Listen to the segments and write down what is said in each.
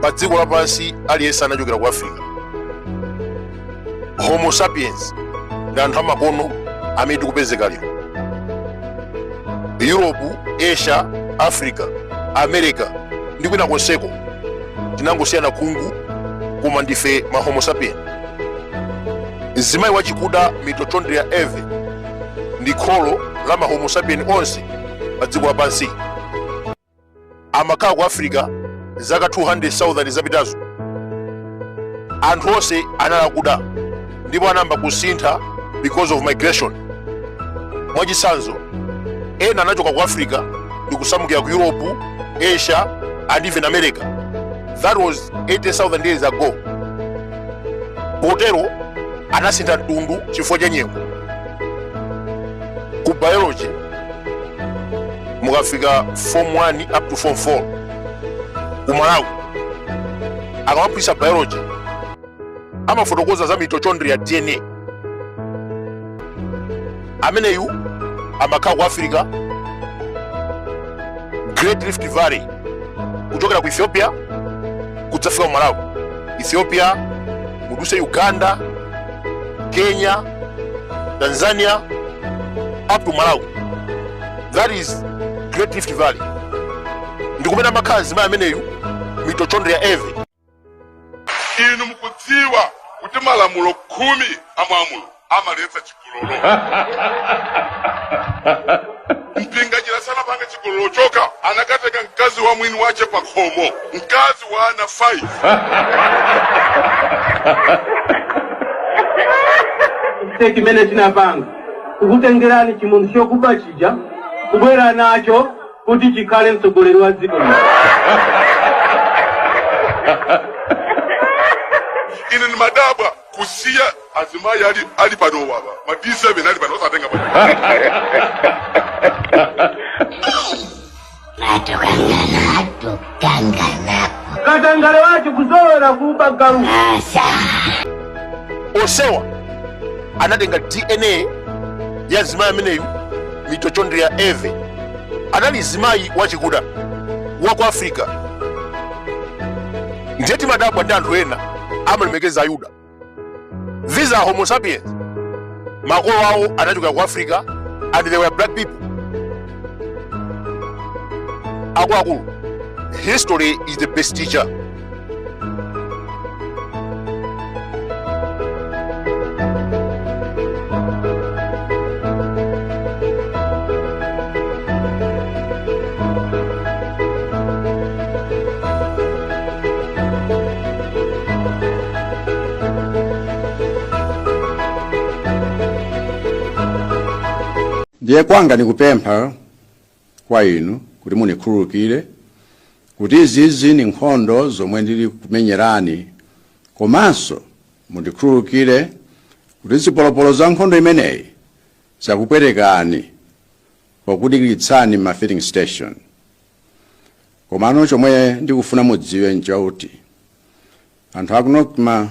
pa dziko lapansi aliyense anachokera ku africa homo sapiens ndi anthu amakono amene tikupezeka lero europe asia africa america ndi kwina konseko tinangosiyana khungu koma ndife ma homo sapien mzimayi wachikuda mitochondria eve ndi kholo la ma homo sapien onse pa dziko lapansi amakhala ku africa zaka 200,000 zapitazo anthu onse anali akuda ndipo anayamba kusintha because of migration mwachitsanzo ena anachoka ku africa ndi kusamukira ku europe asia and even america that was 80000 years ago potero anasintha mtundu chifukwa cha nyengo ku biology mukafika form 1 up to form 4 ku malawi akamaphunzitsa biology amafotokoza za mitochondria dna ameneyu amakhala ku africa great rift valley kuchokera ku ethiopia kudzafika ku malawi ethiopia mudutse uganda kenya tanzania up to malawi that is great rift valley ndikumene amakhala mzimayi ameneyu mitochondria eve inu mukudziwa kuti malamulo khumi a mwa mulo amaletsa chigololo mpinganjira sanapange chigololo choka anakatenga mkazi wa mwini wace pa khomo mkazi wa ana 5 nde chimene tinapanga kukutengerani chimunthu chokuba chija kubwera nacho kuti chikhale mtsogoleri wa dziko lino ine ndimadabwa kusiya azimayi ali pano baba ma d7 ali pano osatenga pano. kanganapo katangale wake kuzolowera kuba galu asa ofufuza anatenga dna ya mzimayi ameneyu mitochondria eve anali mzimayi wachikuda wa ku africa ndiye timadabwa ndi anthu ena amalemekeza ayuda these are homo sapiens makolo awo anachokera ku africa and they were black people akuluakulu history is the best teacher ndiye kwanga nkupempha kwa inu kuti mundikhululukire kuti izizi ndi nkhondo zomwe ndili kumenyerani komanso mundikhululukire kuti zipolopolo za nkhondo imeneyi zakupwetekani pokudikiritsani m'ma filling station komano chomwe ndikufuna mudziwe nchakuti anthu aku nocma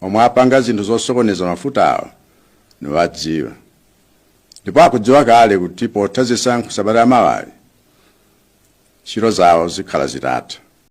omwe apanga zinthu zosokoneza mafutawo ndikuwadziwa ndipo akudziwa kale kuti potha zisankho sabata ya mawa ntchito zawo zikhala zitatha